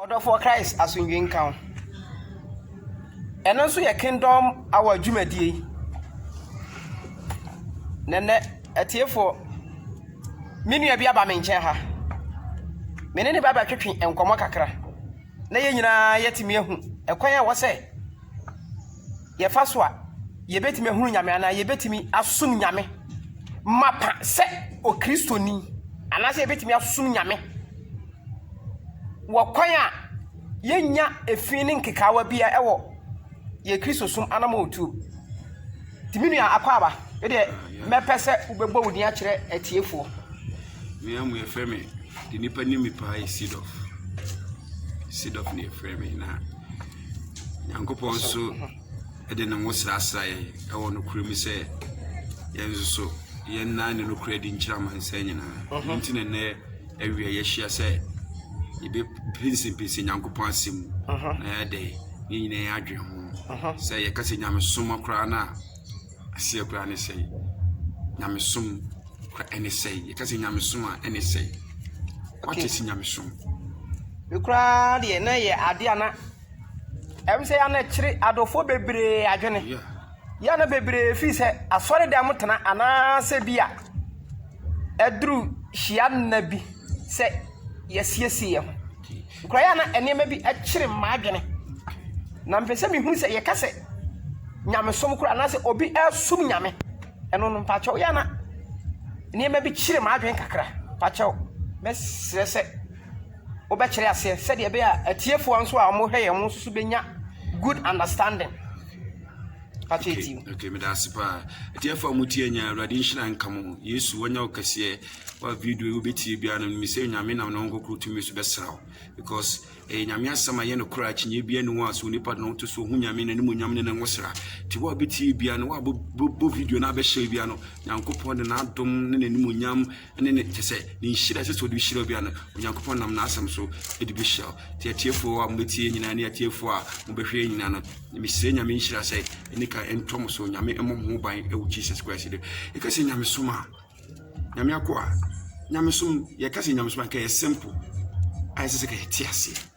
Ɔdɔfoɔ Christ asomdwoe nka wo. Ɛno nso yɛ Kingdom Hour dwumadie. Na nnɛ, atiefoɔ, me nua bi aba me nkyɛn ha. Me ne ne ba bɛtwetwe nkɔmmɔ kakra na yɛn nyinaa yɛatumi ahu ɛkwan a ɛwɔ sɛ yɛfa so a yɛbɛtumi ahunu Nyame anaa yɛbɛtumi asom Nyame mapa sɛ Okristoni anaasɛ yɛbɛtumi asom Nyame wɔ kwan a yɛnnya efi ne nkekaawa biara wɔ yɛn Kristosom anamɔntuo mu. Nti me nua Akwaaba, me deɛ mɛpɛ sɛ wobɛbɔ wo din akyerɛ atiefoɔ. Me amu yɛfrɛ me de nipa nim me paa yɛ Sidɔf. Sidɔf na yɛfrɛ me na Nyankopɔn nso de ne ho srasra yɛn wɔ nokorɛ mu sɛ yɛn nso so yɛn nan ne nokorɛ di nkyerɛ amansan nyinaa ɛno nti na nnɛ awia yɛahyia sɛ yɛbɛpinsinpinsin nyankopɔn asɛm mu na yɛde ne nyinaa yɛn adwene ho sɛ yɛka sɛ nyamesoma koraa no a aseɛ koraa ne sɛe nyamesom kora ɛne sɛe yɛka sɛ nyamesom a ɛne sɛe wate si nyamesom me koraa deɛ na yɛ adeɛ a na Ɛwom sɛ yɛn ano kyere adɔfoɔ bebree adwene, yɛn ano bebree firi sɛ asɔredɛm tena anaasɛ bi a ɛduru hyia nna bi sɛ yɛasiesie yɛn ho. Nkura yɛn ano nneɛma bi kyere m'adwene, na mpɛ sɛ mehunu sɛ yɛka sɛ nyamesom koraa anaasɛ obi ɛresom nyame. Ɛno no mpakyɛw yɛn ano nneɛma bi kyere m'adwene kakra. Mpakyɛw, mɛsrɛ sɛ. wobɛkyerɛ aseɛ sɛdeɛ ɛbɛyɛ a atiefoɔ nso a wɔhwɛ yɛn wɔn nso bɛnya good understanding okay okay meda ase paa atiefoɔ a motie nya awurade nhyira nka mo yesu wanya wo kɛseɛ wa video yi wobɛtie biara no mesɛ nyame nam ne ho nkɔkoro tumi so bɛsra wo because ɛyɛ nyame asɛm a yɛ no korɔ akyinyɛ bia ne wɔ a so onipa de ne ho to so ɔhu nyame no ne mu nyam ne ne ho sra nti wo a wobɛtie bia no woabɔ video no abɛhyɛ bia no nyankopɔn de n'adom ne n'animuonyam ne ne kyɛ sɛ ne nhyira ɛsɛ sɛ ɔde hyira obi ano onyankopɔn nam n'asɛm so de bɛhyira wo nti atiefoɔ a mobɛtie nyinaa ne atiefoɔ a mobɛhwɛ nyinaa no mesrɛ nyame nhyira sɛ ɛne ka ɛntɔ mo so nyame mmɔ mo ho ban ɛwɔ jesus christ de ɛka sɛ nyamesom a nyame akoa nyamesom yɛka sɛ nyamesom a ka yɛ simple ayɛ sɛ sɛ ka yɛte aseɛ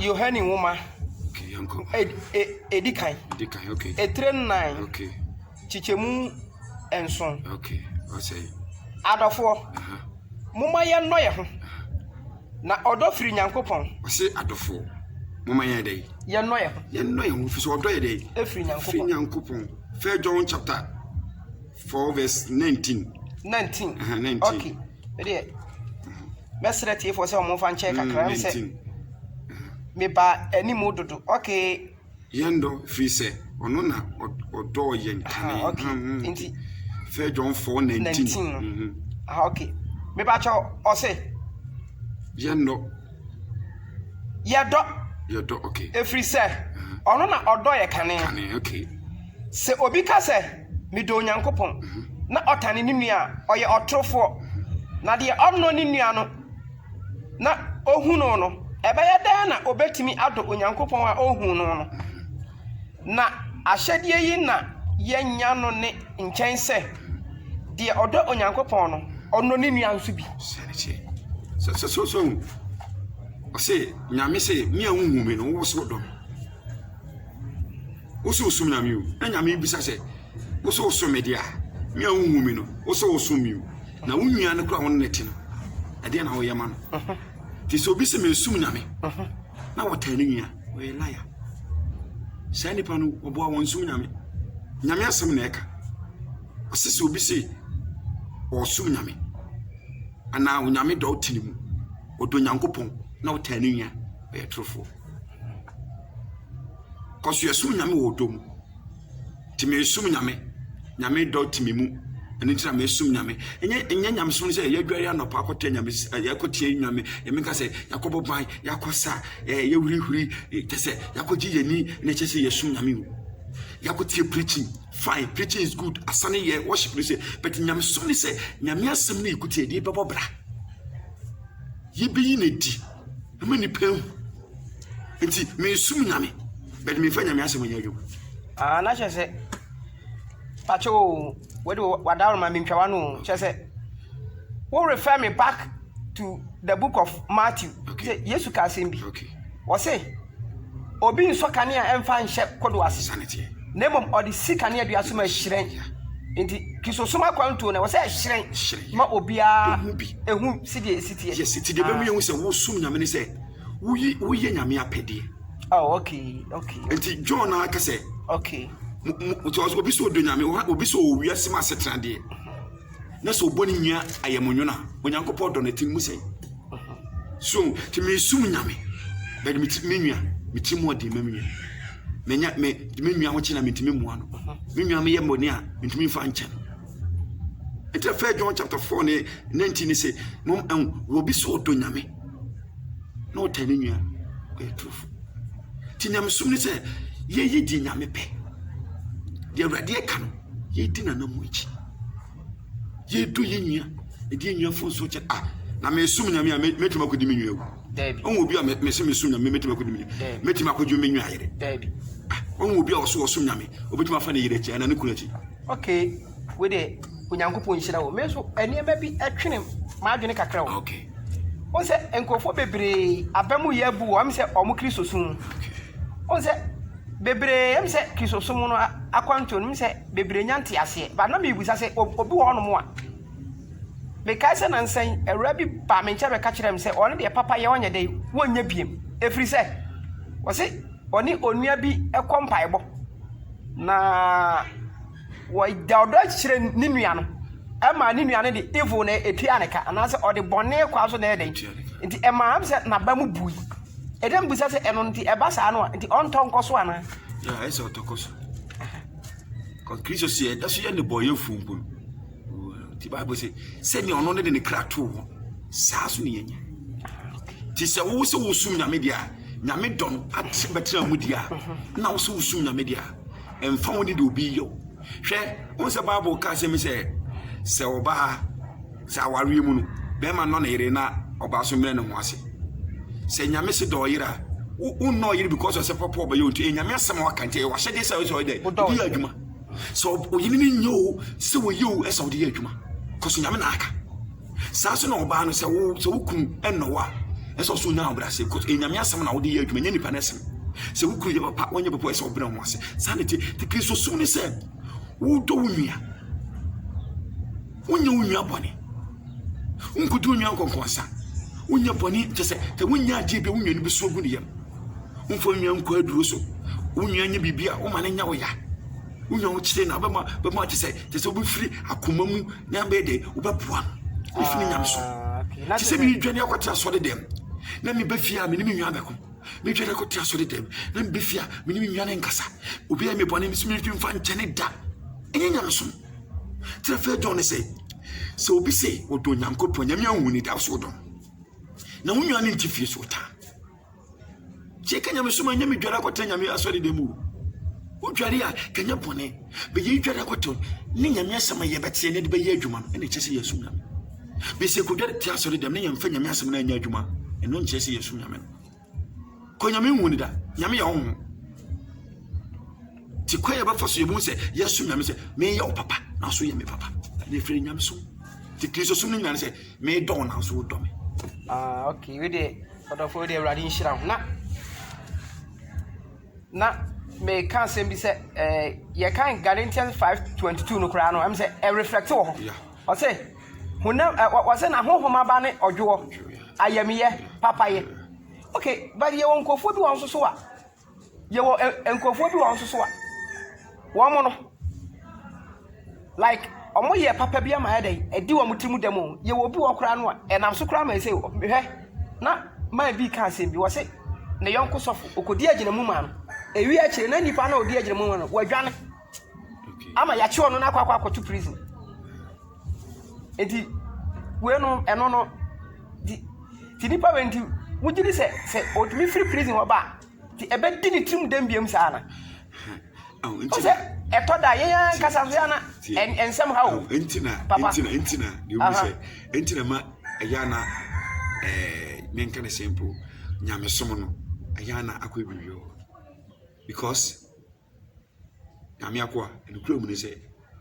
Yohane Nwoma, Edi Kan, etire nnan, kyekyɛmu nson. Adɔfoɔ, momma yɛnnɔ yɛn ho, na ɔdɔ firi Nyankopɔn. Ɔse adɔfoɔ, momma yɛn dɛ. Yɛnnɔ yɛn ho. Yɛnnɔ yɛn ho, firi sɛ ɔdɔ yɛ dɛ. Efiri Nyankopɔn. Efiri Nyankopɔn. First John chapter. Four verse nineteen. Nineteen. Uh -huh, nineteen. Okay. Ɛdeɛ mɛsrɛ tiefoɔ sɛ wɔmfa nkyɛn mm, kakra sɛ meba anim dodo. Okay. Yɛn dɔ firi sɛ ɔno na ɔdɔɔ yɛn kane. Okay. Mm, mm, Nti. Fɛ John four nineteen. Nineteen. Mm -hmm. Ah, okay. Meba kyɛw ɔse. Yɛn dɔ. Yɛdɔ. Yɛdɔ okay. Ɛfiri sɛ uh-huh. ɔno na ɔdɔ yɛ kane. Kane okay. Sɛ obi ka sɛ. Medɔ Onyankopɔn, na ɔtane ne nua a, ɔyɛ ɔtorofoɔ. Na deɛ ɔnnɔ ne nua no, na ɔhu no no, ɛbɛyɛ dɛn na ɔbɛtumi adɔ Onyankopɔn a ɔnhuu no no? Na ahyɛdeɛ yi na yɛanya no ne nkyɛn sɛ, deɛ ɔdɔ Onyankopɔn no, ɔnnɔ ne nua nso bi. Sɛ, sɛ, sɛ, sɛ, ɔse, Nyame se, me a wonhuu me no, wowɔ sɛ wodɔ me? Wo sɛ wosom Nyame o, na Nyame bisa sɛ, wo sɛ wosom me deɛ a, me a wonhu me no, wo sɛ wosom me o, na wo nua no koraa wo ne no te no, ɛdeɛ na woyɛ ma no. Nti sɛ obi sɛ mensom Nyame na wɔtaa ne nua, ɔyɛ laya. Saa nipa no, ɔboa wɔn nsom Nyame. Nyame asɛm na ɛka. Ɔse sɛ obi sɛ ɔsom Nyame anaa onyame dɔ te ne mu, ɔdɔ Nyankopɔn na ɔtaa ne nua, ɔyɛ torofoɔ. Cause yɛsom Nyame wɔ ɔdɔ mu. Nti mesom Nyame. Nyame dɔ te me mu. Ɛno nti na mesom Nyame. Ɛnyɛ ɛnyɛ nyamesom no sɛ yɛadware anɔpa akɔtɛ nyame yɛakɔtie nyame nyame ka sɛ yɛakɔbɔ ban yɛakɔsa ɛɛ yɛhurihuri kyɛ sɛ yɛakɔgye yɛn ani na ɛkyɛ sɛ yɛsom Nyame o. Yɛakɔtie preaching fine preaching is good asane yɛ worship no sɛ but nyamesom ne sɛ nyame asɛm no yɛkɔtie yɛde bɛbɔ bra yɛbɛyi no adi Ɛma nipa ehu. Nti mesum nyame but memfa nyame asɛm nyɛ adwuma. Ah na kyerɛ sɛ pakyɛ o wode wadaworo ma mentwa wano o kyerɛ sɛ wo refer me back to the book of Matthew okay. Yesu ka asɛm bi okay. Wɔse Obi nsɔ kanea mfa nhyɛ kodoɔ ase, na mmom ɔde si kaneadua so ma ɛhyerɛn. Enti Kristosom akwantuo no, ɛwɔ sɛ ɛhyerɛn ma obiara hu sɛdeɛ ɛsi teɛ. Yes, nti deɛ ɛbɛmu yɛhu sɛ wosom Nyame ne sɛ woyi woyɛ Nyame apɛdeɛ. Oh, okay, okay. Nti John na aka sɛ. Okay. Obi sɛ ɔdɔ Nyame, obi sɛ ɔwɔ wiase mu asetena deɛ, na sɛ ɔbɔ ne nua ayamnwona, Onyankopɔn dɔ no, ɛte ne mu sɛn? So nti mesum Nyame but me nua meti mu ɔden ma me nua menya me me nua ho kyena mentumi mmoa no me nua meyɛ mmɔne a mentumi mfa nkyɛ no nti fɛ John chapter 4 ne 19 ne sɛ mom ɛho wɔbi sɛ ɔdɔ Nyame na ɔtɛ ne nua ɔyɛ turofo nti nyamesom ne sɛ yɛyi di Nyame pɛ deɛ awurade ɛka no yɛdi nanamu akyi yɛdɔ yɛ nua ɛdi yɛ nua fo nso kyɛ a na mesom nyame a mɛtumi akɔdi me nua wu ɔhu obi a mese mesom nyame mɛtumi akɔdi me nua mɛtumi akɔdwo me nua yere ɔhu obi a ɔso ɔsom nyame ɔbɛtumi afa ne yere akyi anaa ne kunu akyi okay wede onyankopɔn nhyira wo me nso nneɛma bi ɛtwene m'adwene kakra wo okay wọn sɛ nkurɔfoɔ bebree aba mu yɛ abu wɔn sɛ wɔn kristosom wọn sɛ bebree ɛm sɛ kristosom no akwantuo no sɛ bebree nya nteaseɛ but na mebisa sɛ obi wɔ hɔnom a mekae sɛ nansa yi awura bi baa me nkyɛn bɛka kyerɛɛ me sɛ ɔne deɛ papa yɛ ɔnyɛ dɛ wɔnyɛ biem ɛfiri sɛ wɔse ɔne onua bi kɔ mpaebɔ na wɔda ɔdɔ akyerɛ ne nua no ɛma ne nua no de evil na ɛtua ne ka anaasɛ ɔde bɔne kwa so na ɛyɛ dɛn nti ɛma m sɛ naba mu bui ɛdɛ mbisa sɛ ɛno nti ɛba saa no a nti ɔntɔ nkɔ so anaa ɛsɛ ɔtɔkɔ so Kristo sɛ yɛda so yɛ nnebɔneyɛfo mpo no, nti Bible sɛ sɛnea ɔno ne de ne kra too hɔ saa so ne yɛnya. Nti sɛ wo sɛ wosom Nyame deɛ a, Nyame dɔ no ate bɛtena mu deɛ a, na wo sɛ wosom Nyame deɛ a, ɛmfa wo ne deɛ obi yɛ wo. Hwɛ, wo sɛ Bible ka asɛm sɛ sɛ ɔbaa Sɛ awareɛ mu no, bɛɛma nnɔ ne yere na ɔbaa so mmrɛ ne ho ase. Sɛ Nyame se dɔ ɔyere a, wo wonnɔ ɔyere because ɔsɛ pɔpɔ ɔbɛyɛ nti, ɛyɛ Nyame asɛm a waka nti, ɛyɛ w'ahyɛdeɛ sɛ ɔyɛ dɛ, ɔde yɛ adwuma. Sɛ ɔyere no nyɛ o, sɛ ɔyɛ o, ɛsɛ ɔde yɛ adwuma. Kɔso Nyame na aka. Saa nso na ɔbaa no sɛ wo sɛ wo kunu ɛnnɔ wo a, ɛsɛ ɔso nya ahobrɛase because ɛyɛ Nyame asɛm na wode yɛ adwuma, nyɛ nipa no asɛm. Sɛ wo kunu yɛ papa, wanyɛ papa, ɛsɛ ɔbrɛ ho ase. Saa na ɛte. Te Kristosom ne sɛ, wodɔ wo nua. Wonyɛ wo nua bɔne. Wonkodi wo nua nkɔnkɔnsa. Wonyɛ bɔne kyɛ sɛ sɛ wonya adeɛ bi a wo nua no bɛsu agu ne yam. Womfa wo nua nkɔ aduro so. Wo nua nyɛ biribi a woma no nya wo ya. Wo nua wokyere no a wobɛma bɛma kyɛ sɛ kyɛ sɛ wobɛfiri akoma mu na bɛyɛ dɛ wobɛboa no. Wobɛfiri nya no so. Kyɛ sɛ meredwane akɔtena asɔre dɛm na mebɛ fie a mene me nua bɛko. Medwane akɔtena asɔre dɛm na mebɛ fie a mene me nua no nkasa. Obi ayɛ me bɔne me so meretumi mfa nkyɛne da. Ɛnyɛ nyamesom. Kyerɛfɛ John sɛ, sɛ obi sɛ ɔdɔ Nyankopɔn, Nyame anwu ne da so ɔdɔ no. Na wo nua no nte fie so ɔtaa. Sɛ ɛka Nyame som a, nyɛ medware akɔtena Nyame asɔre dɛm o. Wodware a, kanyɛ bɔne. Bɛyɛ dware akɔtɔ ne Nyame asɛm a yɛbɛteɛ na de bɛyɛ adwuma no, ɛna ɛkyɛ sɛ yɛsom Nyame. Bɛsɛ kɔdware te asɔre dɛm na yɛmfa Nyame asɛm no anyɛ adwuma, ɛno nkyerɛ sɛ yɛsom Nyame no. Kɔ Nyame nhu no da. Nyame yɛ honhom. Ti kwan yɛ bɛfa so yɛ mu sɛ yɛsom Nyame sɛ meyɛ wo papa nanso yɛ me papa. Ne fere Nyame som. Ti Kristo som no nyina ne sɛ medɔ wo nanso wodɔ me. Ah, okay. We de ɔdɔfo we de awurade nhyira ho. Na na meka asɛm bi sɛ eh, yɛkan Galatians 5:22 no koraa no ɛm sɛ ɛreflɛkte wɔ hɔ. Yeah. Ɔse, honam ɛ, wɔ, wɔse na honhom aba ne ɔdwoɔ, ayamyɛ, papayɛ. Ok, but yɛwɔ nkurɔfoɔ bi wɔ hɔ nso so a, yɛwɔ ɛ, nkurɔfoɔ bi wɔ hɔ nso so a, wɔn no, like, wɔn yɛ papa bi ama ayɛ dɛn, ɛdi wɔn tiri mu dɛm o, yɛwɔ obi wɔ hɔ koraa no a, ɛnam so koraa ma ɛsɛ o, hwɛ, na man bi ka asɛm bi, wɔse, ne yɔnko sɔfo, ɔkɔdi agyinamu maa no, ɛwie akyire, na nipa no a ɔdi agyinamu maa no, wadwane. ama yɛakye ɔno no akɔ akɔ akɔto prison eti wei no ɛno no ti ti nipa wei nti wogye di sɛ sɛ otumi firi prison hɔ ba a ti ɛbɛdi ne tirim dɛm biam saa na o sɛ ɛtɔ da yɛn ankasa so yɛn na nsɛm ha o papa ntina ntina deɛ o sɛ ntina ma ɛyɛ ana ɛɛ ne nka ne sɛ mpo nyamesom no ɛyɛ ana akɔ ebi wɔ because. Nyame akoa, nokorɛ mu ne sɛ,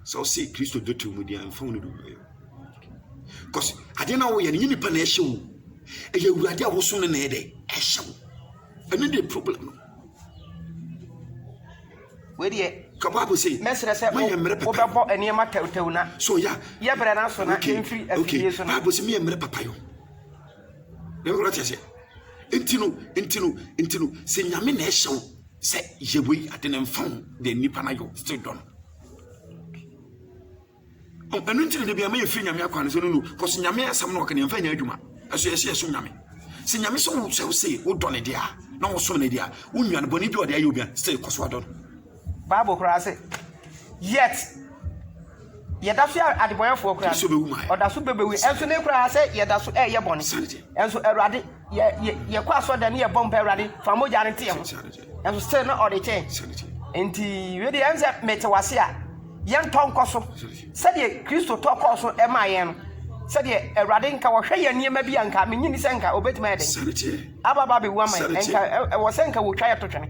sɛ wose Kristo dɔ to mu deɛ a, mfa wo ne dɔ wieɛ. Because adeɛ no a woyɛ no, nyɛ nipa na ɛhyɛ wo. Ɛyɛ Awurade a wosom no na ɛyɛ dɛ, ɛhyɛ wo. Ɛno deɛ problem no. Wedeɛ, ka Bible sɛ, mɛsrɛ sɛ moyɛ mmerɛ papa. Wobɛbɔ nneɛma tɛwtɛw na. So ya. Yɛ brɛ na so na yɛmfiri afidie so na. Bible sɛ meyɛ mmerɛ papa yo. Wate aseɛ? Nti no, nti no, nti no, sɛ nyame na ɛhyɛ wo sɛ yɛ wei ade no mfa ho deɛ nnipa no ayɛ wo still dɔ no. Ɛno nti na de bi ama yɛfiri nyame akwan no sɛ no no, kɔso nyame asɛm no ɔka ne yɛmfa nyɛ adwuma. Ɛso yɛhyɛ yɛsom nyame. Sɛ nyame sɛ wo sɛ wo se wodɔ ne deɛ a na wosom ne deɛ a wonwa no bɔne bi a ɔde ayɛ obi a still kɔ so adɔ no. Bible koraa se, Yet, yɛda so yɛ adebɔnɛfoɔ koraa Kristo bɛwu ma yɛ. ɔda so bɛbɛwu yɛ. Ɛnso ne koraa sɛ yɛda so ɛyɛ bɔne. Sanity. Ɛnso Awurade, yɛ yɛ yɛkɔ asɔ dɛm ne yɛbɔ mpa Awurade fa mogya no teɛ ho. Sanity. Ɛnso still na ɔde kyɛ yɛn. Sanity. Nti wei deɛ ɛnsɛ mete wase a yɛntɔ nkɔ so sɛdeɛ Kristo tɔ kɔɔ so ɛmaa yɛn no sɛdeɛ Awurade nka wɔhwɛ yɛn nneɛma bi a nka menyi ni sɛ nka obetumi ayɛ dɛn Sanity. ababa bɛwu ama yɛn Sanity. nka ɛ- ɛwɔ sɛ nka wɔtwa yɛto twene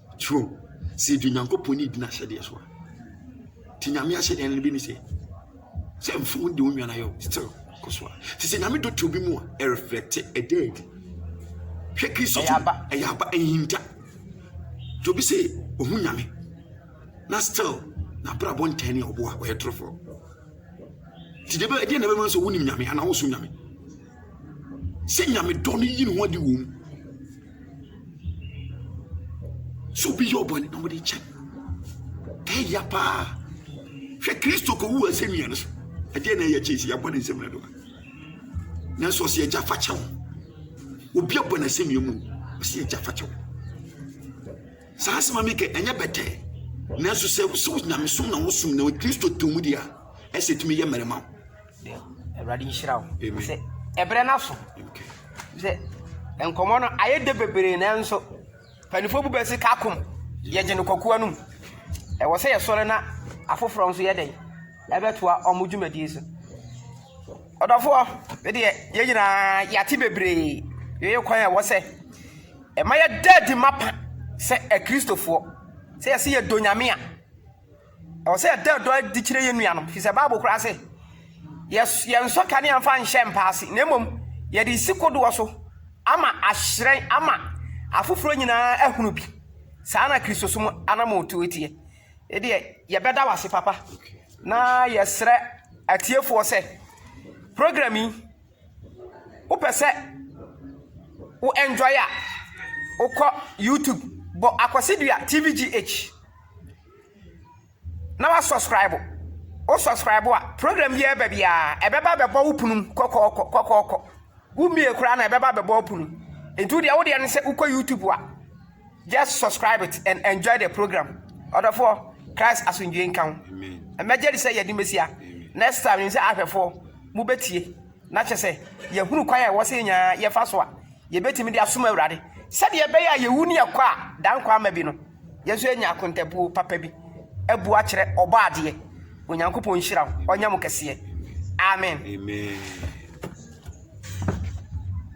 True. Sɛ yɛdi Nyankopɔn ni di n'ahyɛdeɛ so a, nti Nyame ahyɛdeɛ no bi ne sɛ, sɛ mfom de wo nwana yɛ still kɔ so a. Nti sɛ Nyame dɔ to bi mu a, ɛreflɛkte, ɛda adi. Hwɛ Kristo to, ɛyɛ aba, ɛnhinta. Nti obi sɛ ohu Nyame, na still n'abrabɔ ntɛn ne ɔboa, ɔyɛ torofoɔ. Nti deɛ ɛdeɛ na ɛbɛma sɛ wonim Nyame anaa wosom Nyame. sɛ nyame dɔ no yi ne ho adi wɔ mu sɛ obi yɛ ɔbɔne na wɔde kyɛ ɛya paa hwɛ kristo kɔwu asɛnnua no so ɛdeɛ na ɛyɛ kyɛ sɛ yɛabɔ ne nsɛm no doa nanso ɔsɛ agya fa kyɛw obi abɔ no asɛnnua mu ɔsɛ agya fa kyɛw saa asɛm a mekɛ ɛnyɛ bɛtɛɛ nanso sɛ sɛ nyamesom na wosom na kristo tɔ mu deɛ a ɛsɛ tumi yɛ mmarima wo Awurade nhyira wo. Sɛ ɛbrɛ no aso. Sɛ nkɔmmɔ no ayɛ dɛ bebree nanso mpanimfoɔ bu bɛ se ka kom yɛgye no kwakoa no mu. Ɛwɔ sɛ yɛsɔre na afoforɔ nso yɛ dɛn ɛbɛtoa ɔmo dwumadie so. Ɔdɔfoɔ medeɛ yɛn nyinaa yɛate bebree yɛyɛ kwan a ɛwɔ sɛ ɛma yɛda adi mapa sɛ akristofoɔ sɛ yɛse yɛdɔ nyame a Ɛwɔ sɛ yɛda ɔdɔ adi kyerɛ yɛn nuanom, ɛfiri sɛ Bible koraa se, Yɛnsɔ kanea mfa nhyɛ mpa ase, na mmom yɛde resi kodoɔ so ama ahyerɛn ama afoforɔ nyinaa ahunu bi. Saa na Kristosom anammɔntuo teɛ. Ɛdeɛ, yɛbɛda wo ase papa, na yɛsrɛ atiefoɔ sɛ, program yi, Wo pɛ sɛ wo enjoy a, wo kɔ YouTube bɔ Akwasidua TVGH na wa subscribe. Wo subscribe a, program bi ɛbɛ biara, ɛbɛba bɛbɔ wo punu kɔkɔɔkɔ kɔkɔɔkɔ. Wo mie koraa na ɛbɛba bɛbɔ wo punu. Nti wo deɛ wo deɛ ne sɛ wo kɔ YouTube a. Just subscribe it and enjoy the program. Ɔdɔfoɔ, Christ asomdwoe nka ho. Mmɛgye de sɛ yɛde Mesia. Next time nim sɛ ahwɛfoɔ mobɛtie na kyɛ sɛ yɛhunu kwan a ɛwɔ sɛ yɛnyaa yɛfa so a yɛbɛtumi de asom Awurade sɛdeɛ ɛbɛyɛ a yɛwu ne yɛkɔ a dankwa ama bi no yɛn nso yɛnya akontabuo papa bi abu akyerɛ ɔbɔ adeɛ Onyankopɔn nhyira wo ɔnyɛ mo kɛseɛ Amen. Amen.